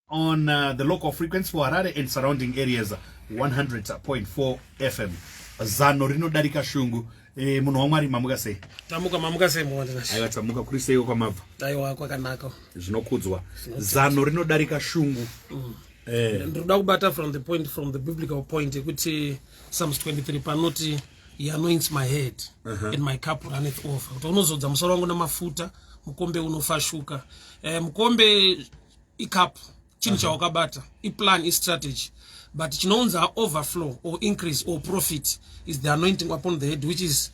on uh, the local frequency for Harare and surrounding areas 100.4 FM zano rinodarika shungu e, munhu wamwari mamuka sei tamuka mamuka sei aiwa tamuka kuri seiwo kwamabva aiwa kwakanaka zvinokudzwa zano rinodarika shungu mm. Eh. ndinoda kubata from the point from the biblical point yekuti psalms 23 panoti he anoints my head uh -huh. and my cup runneth over kuti unozodza musoro wangu namafuta mukombe unofashuka eh, mukombe icup chinhu uh-huh. chawakabata iplan istrategy but chinounza overflow or increase or profit is the anointing upon the head which is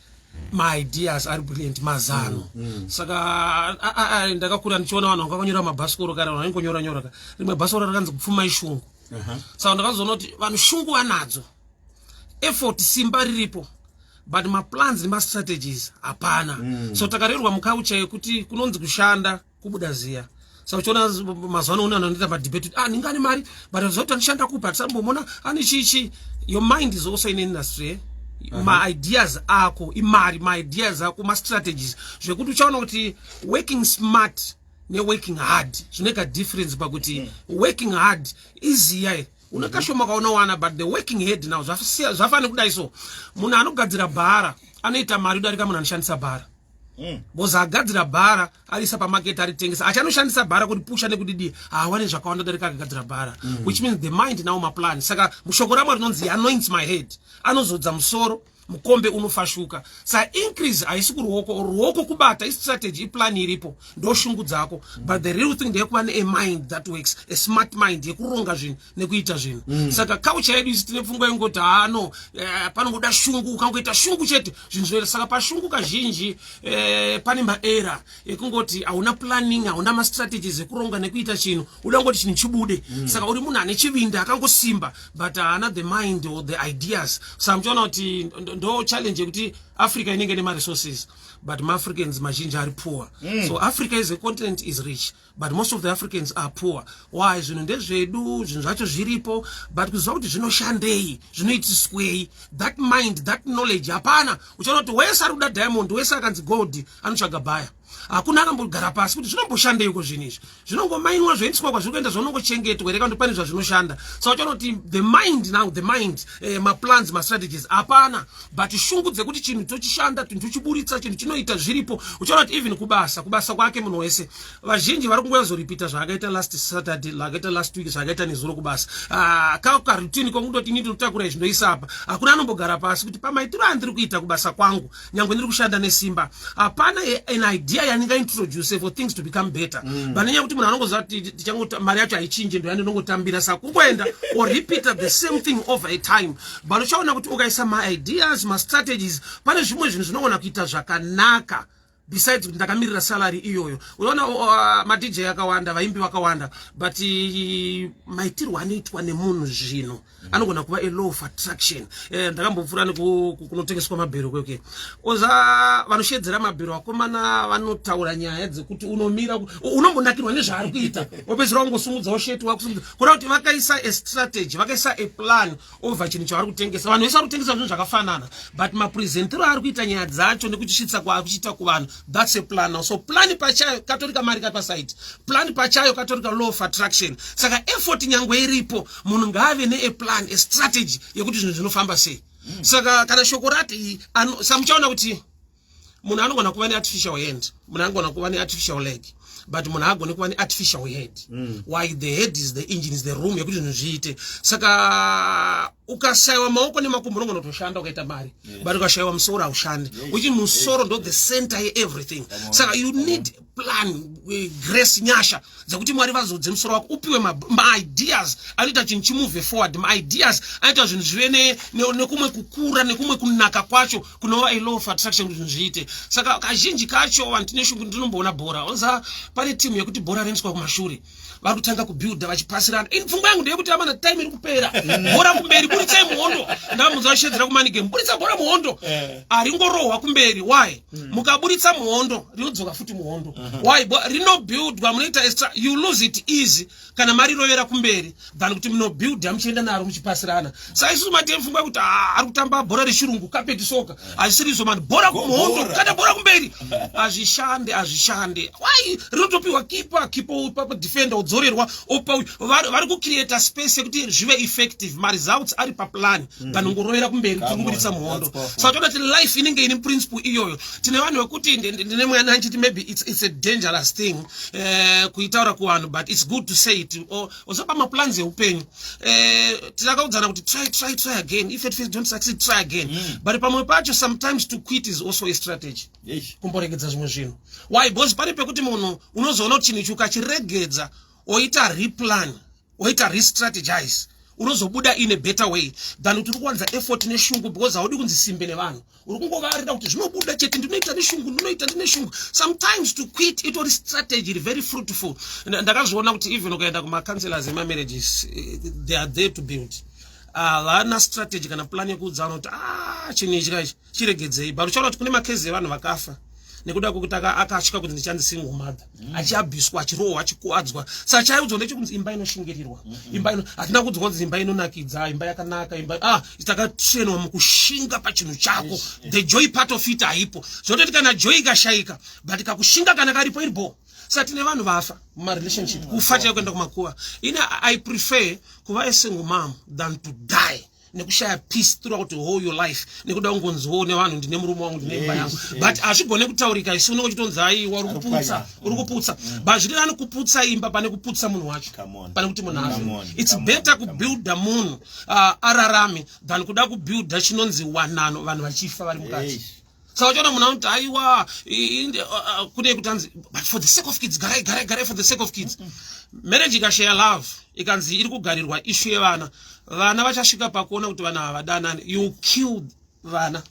maideas ari brilliant mazano mm, mm. saka ndakakura ndichiona vanhu vanga vanyora mabhasikoro kare vanhu vaingonyora nyora ka rimwe bhasikoro rakanzi kupfuma ishungu uh-huh. saka ndakazoona kuti vanhu shungu vanadzo effort simba riripo but maplans nemastrategies hapana mm. so takarerwa mukaucha yekuti kunonzi kushanda kubuda ziya saka uchiona mazuva ano unana anoita madebate ah ninga ane mari but zoti anishanda kupi hatisambomona ane chii chii your mind is also in industry eh? maideas ako imari maideas ako mastrategies zvekuti uchaona kuti working smart neworking hard zvinoita difference pakuti mm. working hard iziya eh? une kashoma kaunowana but the working head now zvafanira kudai so munhu anogadzira bhara anoita mari udarika munhu anoshandisa bhara Mm. Boza agadzira bhara arisa pamarket aritengesa achanoshandisa bhara kuti pusha nekudidii haawane zvakawanda darika akagadzira bhara mm. which means the mind now maplan saka mushoko ramwa rinonzi anoints my head anozodza musoro mukombe unofashuka sa increase haisi kuruoko ruoko kubata istrategy iplan iripo ndoshungu dzako but the real thing ndeyekuva neamind that works a smart mind yekuronga zvinhu nekuita zvinhu mm. saka kaucha yedu isi tine pfungwa yekungoti haano eh, panongoda shungu ukangoita shungu chete zvinhu zvinoita saka pashungu kazhinji eh, pane maera ekungoti hauna planning hauna mastrategies ekuronga nekuita chinhu uda kungoti chinhu chibude mm. saka uri munhu ane chivindi akangosimba but haana the mind or the ideas saka muchiona kuti ndo challenge yekuti africa inenge nemaresources but maafricans mazhinji ari poor mm. so africa is a continent is rich but most of the africans are poor why zvinhu ndezvedu zvinhu zvacho zviripo but kuziva kuti zvinoshandei zvinoitiswei that mind that knowledge hapana uchaona kuti wese ari kuda diamond wese akanzi gold anotsvaga bhaya hakuna akambogara pasi kuti zvinomboshandei uko zvinhu izvi zvinongomainwa zvoendiswa kwazviri kuenda zvaunongochengetwa here kandi pane zvazvinoshanda sa uchaona kuti the mind now the mind eh, maplans mastrategies hapana but shungu dzekuti chinhu tochishanda tunhu tochiburitsa chinhu chinoita zviripo uchaona kuti even kubasa kubasa kwake munhu wese vazhinji vari kungoyazoripita zvaakaita last saturday zvakaita last week zvakaita nezuro kubasa ah, ka karutini kwakundoti ini ndinotakura izvi ndoisa apa hakuna anombogara pasi kuti pamaitiro andiri kuita kubasa kwangu nyangwe ndiri kushanda nesimba hapana an idea yandingaintroduce for things to become better mm. pane nyaya kuti munhu anongoziva kuti mari yacho haichinje ndoyandinongotambira saka kungoenda or repeater the same thing over a time but uchaona kuti ukaisa maideas mastrategies pane zvimwe zvinhu zvinogona kuita zvakanaka besides kuti ndakamirira salary iyoyo unoona uh, madj akawanda vaimbi vakawanda but uh, maitirwo anoitwa nemunhu zvino mm. anogona kuva a law of attraction eh, ndakambopfuura nekunotengeswa mabhero kweke oza vanoshedzera mabhero akomana vanotaura nyaya dzekuti unomira unombonakirwa nezvaari kuita wopedzera wangosumudzawo sheti wakusumudza kureva kuti vakaisa a strategy vakaisa a plan over chinhu chavari kutengesa vanhu vese vari kutengesa zvinhu zvakafanana but mapresentiro ari kuita nyaya dzacho nekutisvitsa kwaari kuchiita kuvanhu thats a plan now so plan pachayo katorika mari kapasaiti plan pachayo katorika law of attraction saka effort nyangwe iripo munhu ngaave nea plan a strategy yekuti zvinhu zvinofamba sei mm. saka kana shoko rati samuchaona kuti munhu anogona kuva neartificial hand munhu anogona kuva neartificial leg but munhu agone kuva neartificial head mm. why the head is the engine is the room yekuti zvinhu zviite saka ukashayiwa maoko nemakumbo unogona kutoshanda ukaita mari yes. but ukashayiwa musoro haushandi yes. uchi musoro ndo the center yeeverything saka you need mm. plan eh, grace nyasha dzekuti mwari vazodze musoro wako upiwe maideas anoita chinhu chimove forward maideas anoita zvinhu zvive nekumwe kukura nekumwe kunaka kwacho kunova ilaw of attraction kuti zvinhu zviite saka kazhinji kacho vanhu tine shungu ndinomboona bhora onza pane timu yekuti bhora rinoiswa kumashure vari kutanga kubuilda vachipasirana ini pfungwa yangu ndeyekuti amana time iri kupera mm. bhora kumberi buritsai muhondo ndamuza vashedzera kumanigame buritsa bhora muhondo eh. aringorohwa kumberi why mm. mukaburitsa muhondo rinodzoka futi muhondo uh-huh. why rinobuildwa munoita extra you lose it easy kana marirovera kumberi than kuti munobuilda muchienda naro muchipasirana sa isusu mate mfungwa kuti ah, ari kutamba bhora rechirungu kapeti soka hazvisirizvo mani bhora kumuhondo kana bhora kumberi hazvishande hazvishande wai rinotopiwa kipa kipa opa defender odzorerwa opa uyu vari kucreata space yekuti zvive effective maresults ari paplan mm. than ungorovera kumberi tiri kubuditsa muhondo saka toda kuti life inenge ine principle iyoyo tine vanhu vekuti ndine mwana achiti maybe it's, it's a dangerous thing eh, kuitaura kuvanhu but its good to say it also pamaplans eupenyu eh, tinakaudzana kuti try try try again if at first don't succeed try again mm. but pamwe pacho sometimes to quit is also a strategy kumboregedza zvimwe zvinhu why because pane pekuti munhu unozoona kuti chinhu ichi ukachiregedza oita replan woita restrategize unozobuda in a better way than kuti uri kuwanza effort neshungu because haudi kunzi simbe nevanhu uri kungovarira kuti zvinobuda chete ndinoita neshungu ndinoita ndineshungu sometimes to quit itori strategy iri very fruitful ndakazviona kuti even ukaenda kumacounselors emamarriages eh, they are there to build havana ah, strategy kana plan yekuudza vanoti a ah, chinhu ichi kaichi chiregedzei but uchaona kuti kune makezi evanhu vakafa nekuda kwekuti akatya kuti ndichanzi single mother mm. achiabhiswa achirohwa achikuadzwa sa chaiudzwa ndechekunzi imba inoshingirirwa mm, mm. imba ino hatina kuudzwa kunzi imba inonakidza imba yakanaka imba ah takatrenwa mukushinga pachinhu chako the joy part of it haipo zvototi kana joy ikashayika but kakushinga kana karipo iri bho sa tine vanhu vafa mumarelationship kufa chaiyo kuenda kumakuva ini i prefer kuva esingle mom than to die nekushaya peace throughout the whole your life nekuda kungonziwo nevanhu ndine murume wangu ndine imba yangu but hazvigone kutaurika isu unenge uchitonzi aiwa uri kuputsa uri kuputsa mm. but zviri nani kuputsa imba pane kuputsa munhu wacho pane kuti munhu azvo its better kubuilda munhu uh, ararame than kuda kubuilda chinonzi wanano vanhu vachifa vari mukati saka uchiona munhu anoti aiwa kune kutanzi but for the sake of kids garai garai garai for the sake of kids marriage ikashaya love ikanzi iri kugarirwa ishu yevana vana vachasvika pakuona kuti vana havadanani you kill vana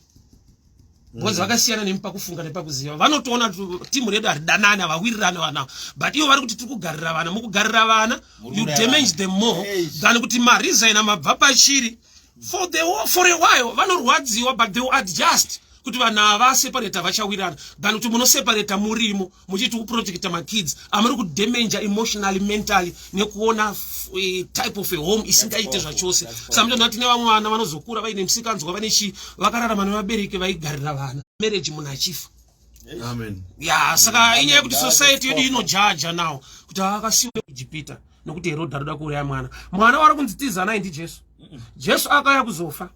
because mm. vakasiyana nemi pakufunga nepakuziva vanotoona timu redu haridanani havawirirani vana but ivo vari kuti tiri kugarira vana mukugarira vana you damage them more than kuti marizaina mabva pachiri for the for a while vanorwadziwa but they will adjust kuti vanhu ava separate vachawirana than kuti munoseparate murimo muchiti kuprotecta makids amuri kudamange emotionally mentally nekuona eh, type of a home isingaite zvachose samutano vati nevamwe vana vanozokura vaine musikanzwa vane chii vakararama nevabereki vaigarira vana marriage munhu achifa amen ya saka inyaya yekuti society yedu inojaja now kuti akasiwa ejipita nokuti herodhi anoda kuuraya mwana mwana wari kunzi tiza naye ndijesu jesu akauya kuzofa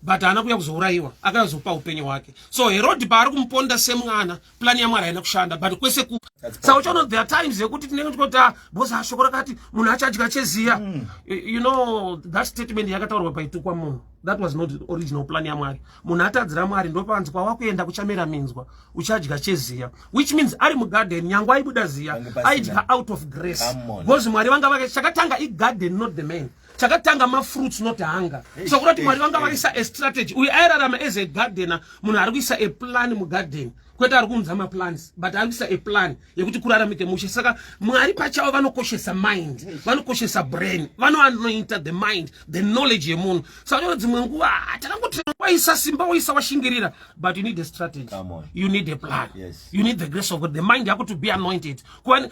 but haana kuuya kuzourayiwa akauya kuzopa upenyu hwake so herodhi paari kumuponda semwana plani yamwari haina kushanda but kwese ku sa uchaona there times yekuti tinenge tikoti ah, bosa ah, shoko rakati munhu achadya cheziya mm. you know that statement yakataurwa paitukwa munhu that was not original plan yamwari munhu atadzira mwari ndopanzi kwawakuenda kuchamera minzwa uchadya cheziya which means ari mugarden nyange aibuda ziya aidya out of grace because mwari vanga vake chakatanga igarden not the man chakatanga mafruits not hunger so kurati mwari vanga vaisa a strategy uyu airarama as a gardener munhu ari kuisa a plan mugarden kwete ari kuunza maplans but ari kuisa a plan yekuti kuraramike mushe saka mwari pachavo vanokoshesa mind vanokoshesa brain vanoanointa the mind the knowledge yemunhu saka dzimwe nguva takangoti waisa simba waisa washingirira but you need a strategy you need a plan yes. you need the grace of God the mind yako to be anointed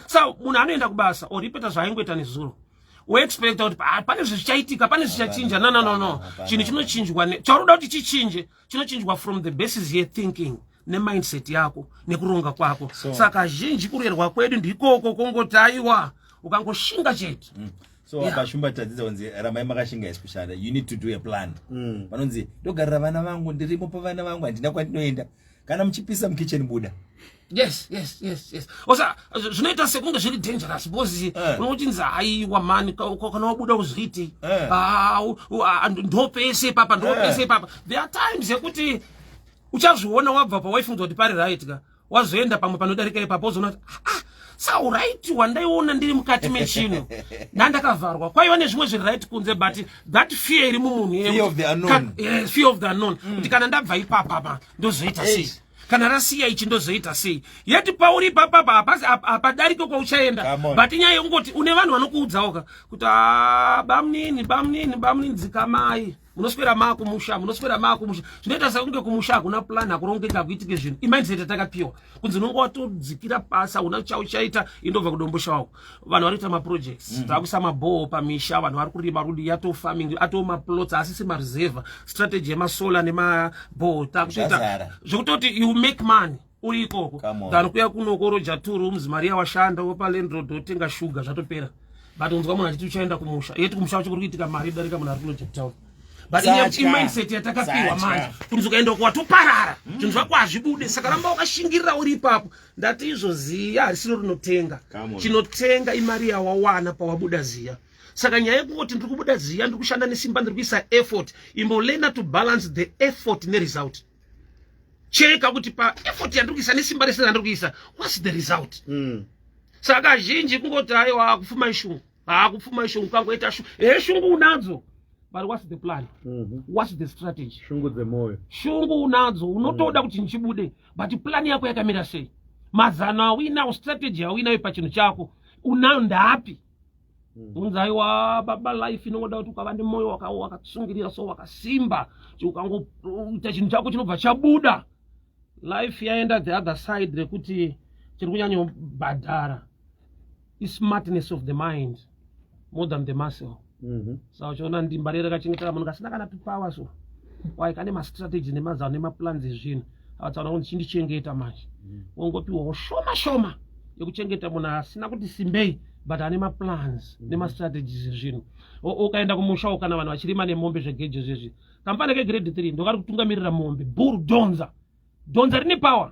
sa munhu anoenda kubasa or ipeta zvaaingoita nezuro woexpecta kuti ah, pane zvezvichaitika pane zvichachinja no no no no chinhu chinochinjwa chauri kuda kuti chichinje chinochinjwa from the basis ye thinking nemindset yako nekuronga kwako so, saka zhinji kurerwa kwedu ndikoko kongoti aiwa ukangoshinga chete mm. so yeah. akashumba tadzidza kunzi ramai makashinga isi kushanda you need to do a plan mm. vanonzi ndogarira vana vangu ndirimo pavana vangu handina kwandinoenda kana muchipisa mukitchen buda yes yes yes yes osa zvinoita sekunge zviri dangerous because eh. unochinzi haiwa mani kana wabuda kuzviiti eh. ah, ah, ndopese ipapa ndopese eh. ipapa there are times yekuti uchazviona wabva pawaifunza kuti pari right ka wazoenda pamwe panodarika ipapa uzoona kuti ah, ah sauright wandaiona ndiri mukati mechino nandakavharwa kwaiva nezvimwe zviri right kunze but that fear iri mumunhu fear of the unknown mm. kuti kana ndabva ipapama ndozoita sei kana rasiya ichi ndozoita sei yet pauri ipapapa hapasi hapadarike kwauchaenda but nyaya yekungoti une vanhu vanokuudzawo ka kuti ah, bamnini bamnini bamnini dzikamai munoswera maa kumusha munoswera maa kumusha zvinoita sekunge kumusha hakuna plan hakurongeka kuitike zvinhu imindset atakapiwa kunzi unonge watodzikira pasi hauna chauchaita indobva kudombosha wako vanhu vari kuita maprojects mm -hmm. takuisa mabhoho pamisha vanhu vari kurima rudi yato farming atoo maplots asisi mareserva strategy yemasolar nemabhoho takutoita zvekutoti you make money uri ikoko than kuya kunokoroja two rooms mari yawashanda wopa landroad wotenga shuga zvatopera but unzwa munhu achiti uchaenda kumusha yeti kumusha wacho kuri kuitika mari darika munhu ari kunojape town but imindset yatakapiwa manje kuti ukaenda uko watoparara zvinhu zvako hazvibude saka ramba wakashingirira uri ipapo ndati izvo ziya harisino rinotenga chinotenga imari yawawana pawabuda ziya saka nyaya yekungoti ndiri kubuda ziya ndiri kushanda nesimba ndiri kuisa effort imbolena to balance the effort neresult cheka kuti pa effort yandiri kuisa nesimba rese randiri kuisa whats the result mm. saka zhinji kungoti aiwa kufuma ishungu haa kupfuma ishungu kangoita shungu he shungu unadzo but what's the plan mm -hmm. what's the strategy shungu dzemoyo shungu unadzo unotoda mm. kuti ndichibude but plan yako yakamira sei mazano awinawo strategy awinayo pachinhu chako unayo ndapi mm. unzai wa baba life inongoda kuti ukava nemoyo wakatsungirira so wakasimba ukangoita chinhu chako chinobva chabuda life yaenda the other side rekuti chiri kunyanyobhadhara ismartness of the mind more than the muscle mhm. sa uchiona ndimba rere kachengetera munhu kasina kana tupower so wai kane mastrategy nemazano nemaplans ezvinhu akatsaona kuti chindichengeta manje mhm. wongopiwawo shoma shoma yekuchengeta munhu asina kuti simbei but ane maplans mhm. nemastrategies ezvinhu ukaenda kumusha ukana vanhu vachirima nemombe zvegejo zvezvi kamfana kegrade three ndokari kutungamirira mombe buru donza donza rine power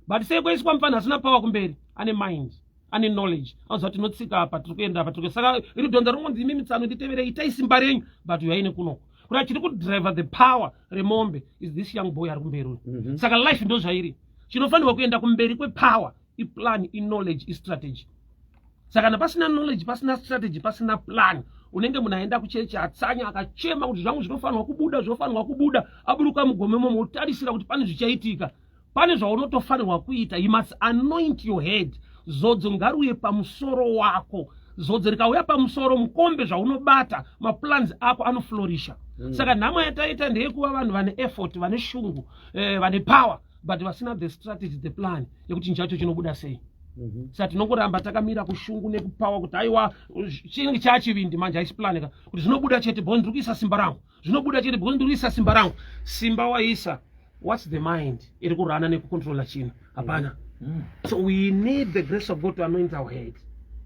but sei kwaiswa mfana asina power kumberi ane mind ane knowledge anoziva tinotsika apa tiri kuenda apa tiri saka iri donza ringonzi imi mitsano nditevere itai simba renyu but uyaine kunoko kuti achiri kudriver the power remombe is this young boy ari kumberi uyu mm -hmm. saka life ndozvairi chinofanirwa kuenda kumberi kwepower iplan iknowledge istrategy saka kana pasina knowledge pasina strategy pasina plan unenge munhu aenda kuchechi atsanya akachema kuti zvangu zvinofanirwa kubuda zvinofanirwa kubuda aburuka mugome momo otarisira kuti pane zvichaitika pane zvaunotofanirwa kuita you must anoint your head zodzo ngaruye pamusoro wako zodzo rikauya pamusoro mukombe zvaunobata maplans ako anoflorisha mm. saka nhamo yataita ndeyekuva vanhu vane effort vane shungu eh, vane power but vasina the strategy the plan yekuti chinhu chacho chinobuda sei mhm. sa tinongoramba takamira kushungu nekupawa kuti aiwa chinenge chaachivindi manje haisi plan ka kuti zvinobuda chete bho ndiri kuisa simba rangu zvinobuda chete bho ndiri kuisa simba rangu simba waisa whats the mind iri kurana nekucontrola chinhu hapana mhm. so we need the grace of god to anoint our head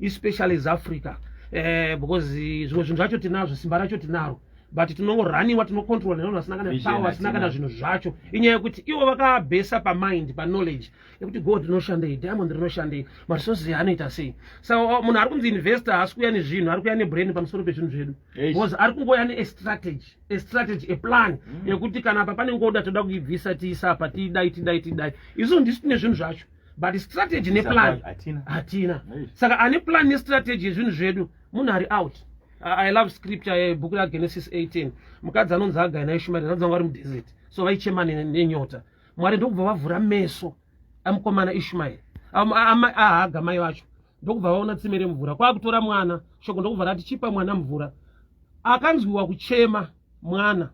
especially as africa eh, because zvimwe zvinhu zvacho tinazvo simba racho tinaro but tinongoraniwa tinocontrola nevanhu vasina kana power vasina kana zvinhu zvacho inyaya yekuti ivo vakabhesa pamind paknowledge yekuti gold rinoshandei diamond rinoshandei maresources anoita sei saka oh, munhu ari kunzi investor haasi kuuya nezvinhu ari kuuya nebrain pamusoro pezvinhu zvedu because ari kungouya neestrategy estrategy eplan mm. yekuti kana apa pane ngoda toda kuibvisa tiisa apa tidai tidai tidai isu ndisi tine zvinhu zvacho but strategy neplan hatina saka ane plan nestrategy yezvinhu zvedu munhu ari out i love scripture yebhuku ragenesis 18 mukadzi anonzi agai naishumairi anonzi vanga vari mudesert so vaichema nenyota mwari ndokubva vavhura meso amukomana ishumairi ahaga mai vacho ndokubva vaona tsime remvura kwakutora mwana shoko ndokubva rati chipa mwana mvura akanzwiwa kuchema mwana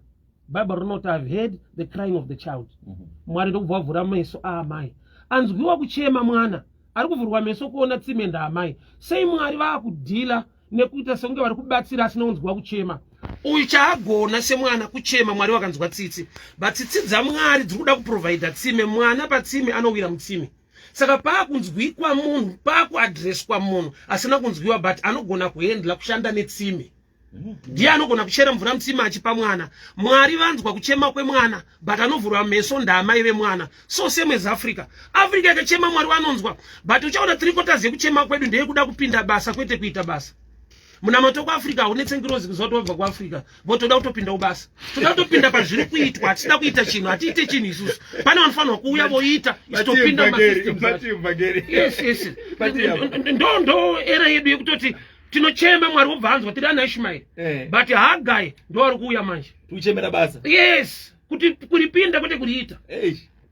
bible rinoti ihave heard the crying of the child mhm. mwari ndokubva wavhura meso aamai ah, anzwiwa kuchema mwana ari kuvhurwa meso kuona tsime ndaamai sei mwari vaakudhila nekuita sekunge vari kubatsira asina kunzwa kuchema uyu chaagona semwana kuchema mwari wakanzwa tsitsi but tsitsi dzamwari dziri kuda kuprovhaidha tsime mwana patsime anowira mutsime saka paakunzwikwa munhu paakuadhreswa munhu asina kunzwiwa but anogona kuhendla kushanda netsime ndiye anogona kuchera mvura mutsima achipa mwana mwari vanzwa kuchema kwemwana but anovhura meso ndaamai vemwana so same as africa africa yakachema mwari vanonzwa but uchaona three quarters yekuchema kwedu ndeyekuda kupinda basa kwete kuita basa munamato kuafrica haunetse ngirozi kuziva kuti wabva kuafrica bo toda kutopinda ubasa toda kutopinda pazviri kuitwa hatisida kuita chinhu hatiite chinhu isusu pane vanofanirwa kuuya voita isitopinda ndo era yedu yekutoti tinochema mwari wobva anzwa tiri ana ishumaeri eh. but hagai ndoari kuuya manje tichemera basa yes kuti kuripinda kwete kuriita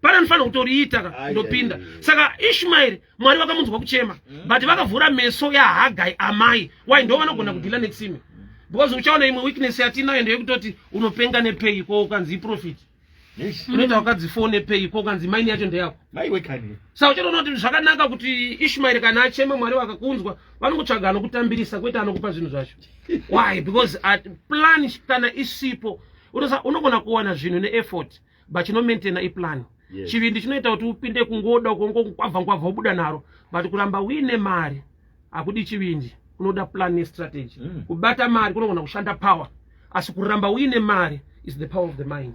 pane anofanira kutoriita ka ndopinda saka ishumaeri mwari vakamunzwa kuchema mm. but vakavhura meso yahagai amai wai ndo vanogona kudhila netsime because uchaona imwe weakness yatinayo ndeyekutoti unopenga nepei ko ukanzi iprofiti unoita wakadzi fone pei ko ukanzi maini yacho ndeyako sa uchaona kuti zvakanaka kuti ishmaeri kana achema mwari vakakunzwa vanokutsvaga anokutambirisa kwete anokupa zvinhu zvacho why because at plan kana isipo unogona kuwana zvinhu neeffort but chinomaintaina iplan chivindi chinoita kuti upinde kungoda ukongo kwabva nkwabva ubuda naro but kuramba uine mari hakudi chivindi kunoda plan nestrategy mm. kubata mari kunogona kushanda power asi kuramba uine mari is the power of the mind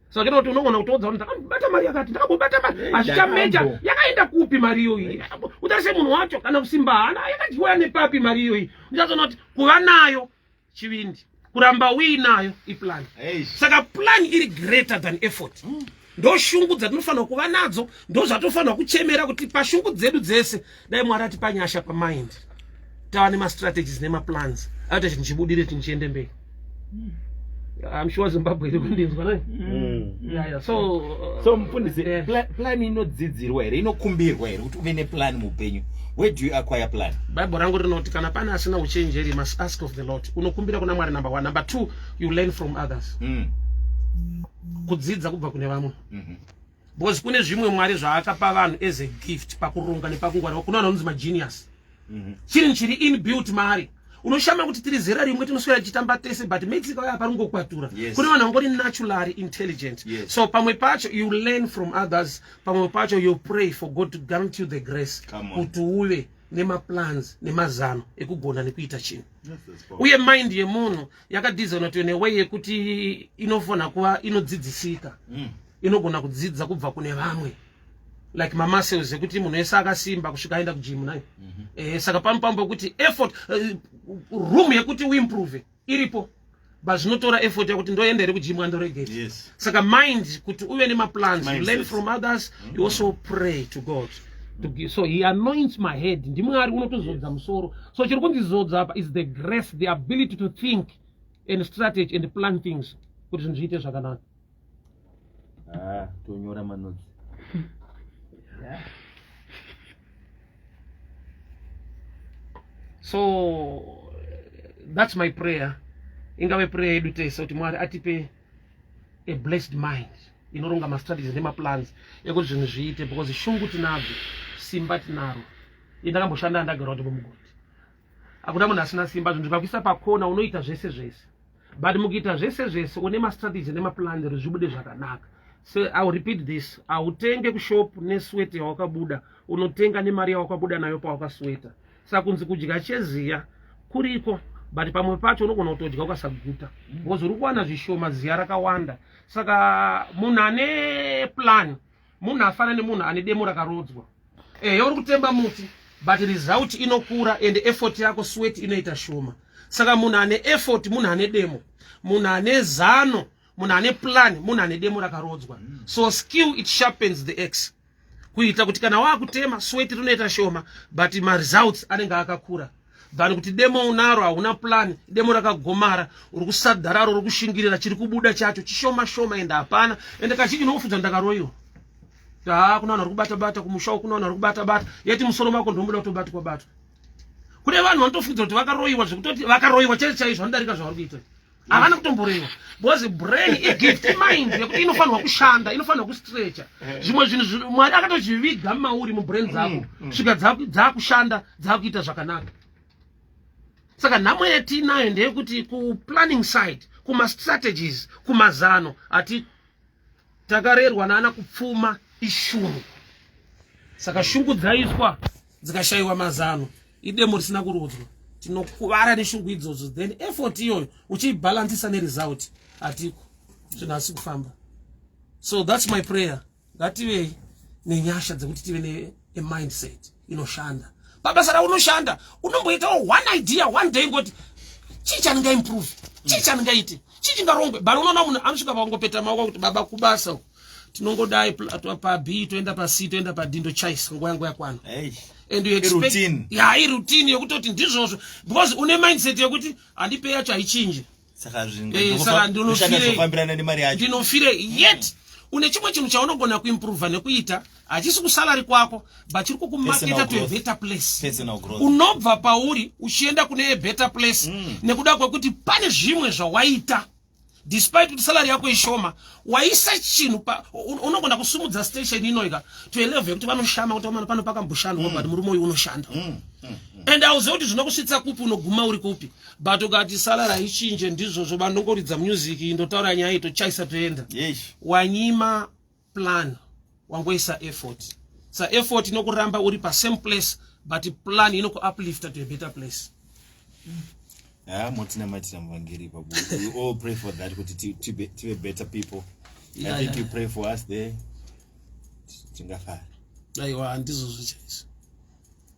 saka kuti unogona kutoudza kuti ndakabata mari yakati ndakambobata mari eh, hazvichameja yakaenda kupi mari iyoyi eh. utarise munhu wacho kana kusimba hana yakadyiwa nepapi mari iyoyi uchazoona kuti kuva nayo chivindi kuramba uinayo iplan saka plan iri greater than effort mm. ndoshungu dzatinofanirwa kuva nadzo ndozvatofanirwa kuchemera kuti pashungu dzedu dzese dai mwari atipa nyasha pamind tava nemastrategies nemaplans aita chinhu chibudire chinhu chiende mberi mm. I'm sure Zimbabwe iri kundinzwa naye. Mm. Yeah, yeah. So, uh, so mfundisi yeah. pla plan inodzidzirwa here inokumbirwa here kuti uve neplan muupenyu where do you acquire plan bible rangu rinoti kana pane asina uchenjeri you must ask of the lord unokumbira kuna mwari number one number two you learn from others mm. kudzidza kubva kune vamwe mm -hmm. because kune zvimwe mwari zvaakapa vanhu as a gift pakuronga nepakungwarira kuno vanhu vanonzi magenius mhm. chiri chiri inbuilt maari unoshama kuti tiri zera rimwe tinoswera tichitamba tese but mexico aya parungokwatura yes. kune vanhu vangori naturally intelligent yes. so pamwe pacho you learn from others pamwe pacho you pray for god to grant you the grace kuti uve nemaplans nemazano ekugona nekuita chinhu uye mind yemunhu yakadizonatiwe neway yekuti inofanira kuva inodzidzisika mm. inogona kudzidza kubva kune vamwe like mamuscles ekuti munhu wese akasimba kusvika aenda kujimu nayo mm -hmm. eh, saka pamwe pamwe pokuti effort uh, room yekuti uimprove iripo but zvinotora effort yekuti ndoenda here kujimu andoregeta yes. saka mind kuti uve nemaplans you learn from others mm -hmm. you also pray to god so he anoints my head ndimwari unotozodza yes. musoro so chiri kundizodza apa is the grace the ability to think and strategy and plan things kuti zvinhu zviite zvakanaka Ah, tonyora manotsi. yeah. So that's my prayer. Ingave prayer yedu tese kuti Mwari atipe a blessed mind inoronga mastrategies nemaplans ekuti zvinhu zviite because shungu tinadzo simba tinaro indakamboshanda ndagara kuti mumugoti hakuna munhu asina simba zvinhu zvikakuisa pakona unoita zvese zvese but mukuita zvese zvese une mastrategy nemaplan ri zvibude zvakanaka so iw repeat this hautenge kushop neswete yawakabuda unotenga nemari yawakabuda nayo pawakasweta saka kunzi kudya cheziya kuriko but pamwe pacho unogona kutodya ukasaguta bcause uri kuwana zvishoma ziya rakawanda saka munhu ane plan munhu afana nemunhu ane demo rakarodzwa ehe uri kutemba muti but result inokura and effort yako sweat inoita shoma saka munhu ane effort munhu ane demo munhu ane zano munhu ane plan munhu ane demo rakarodzwa so skill it sharpens the x kuita kuti kana waakutema sweat rinoita shoma but maresults anenge akakura than kuti demo unaro hauna plan demo rakagomara uri kusadararo uri kushingirira chiri kubuda chacho chishoma shoma ende hapana ende kazhinji unokufunza ndakaroiwa haa kuna vanhu vari kubata bata kumushawo kuna vanhu vari kubata bata yeti musoro mako ndomuda kutobatwa batwa kune vanhu vanotofunza kuti vakaroiwa zvekutoti vakaroiwa chete chaizvo vanodarika zvavari kuita havana kutomborewa because brain igift mind yekuti inofanirwa kushanda inofanirwa kustrecha eh. zvimwe zvinhu mwari akatozviviga mauri mubrain dzako mm, mm. svika dzakushanda dzakuita zvakanaka saka nhamo yatiinayo ndeyekuti kuplanning side kumastrategies kumazano hati takarerwa naana kupfuma ishungu saka shungu dzaiswa dzikashayiwa mazano idemo risina kurudzwa tinokuvara neshungu idzodzo then effort iyoyo uchiibhalansisa neresult hatiko zvinhu asi kufamba so thats my prayer ngative nenyasha dzekuti tive a mindset inoshanda pabasa raunoshanda unomboitawo one idea one day ngoti chii chandinga improve chii chandingaite chii chingarongwe but unoona munhu anosvika pakungopeta maoko kuti baba kubasa uku tinongodai pab toenda pac toenda padindo chais nguva yangu yakwana and you expect ya iroutine yekutoti ndizvozvo because une mindset yekuti handipe yacho haichinje saka zvinofambirana eh, nemari yacho ndinofire yet mm. une chimwe chinhu chaunogona kuimprova nekuita hachisi kusalari kwako but chiri kukumaketa to a better place unobva pauri uchienda kune a better place mm. nekuda kwekuti pane zvimwe zvawaita despite kuti salary yako ishoma waisa chinhu unogona kusumudza station inoika to a level yekuti vanoshama kuti vamana pano pakamboshanda mm. but murume uyu unoshanda mm. mm. mm. and auzive kuti zvinokusvitsa kupi unoguma uri kupi but ukati sala raichinje ndizvozvo vanongoridza music ndotaura nyaya itochaisa toenda wanyima plan wangoisa effort sa effort inokuramba uri pasame place but plan inokuuplifta to a better place ah, motinamatira muvhangeri ipapo we all pray for that kuti tive better people yeah, i think yeah. you pray for us there tingafara aiwa handizvozvo chaizvo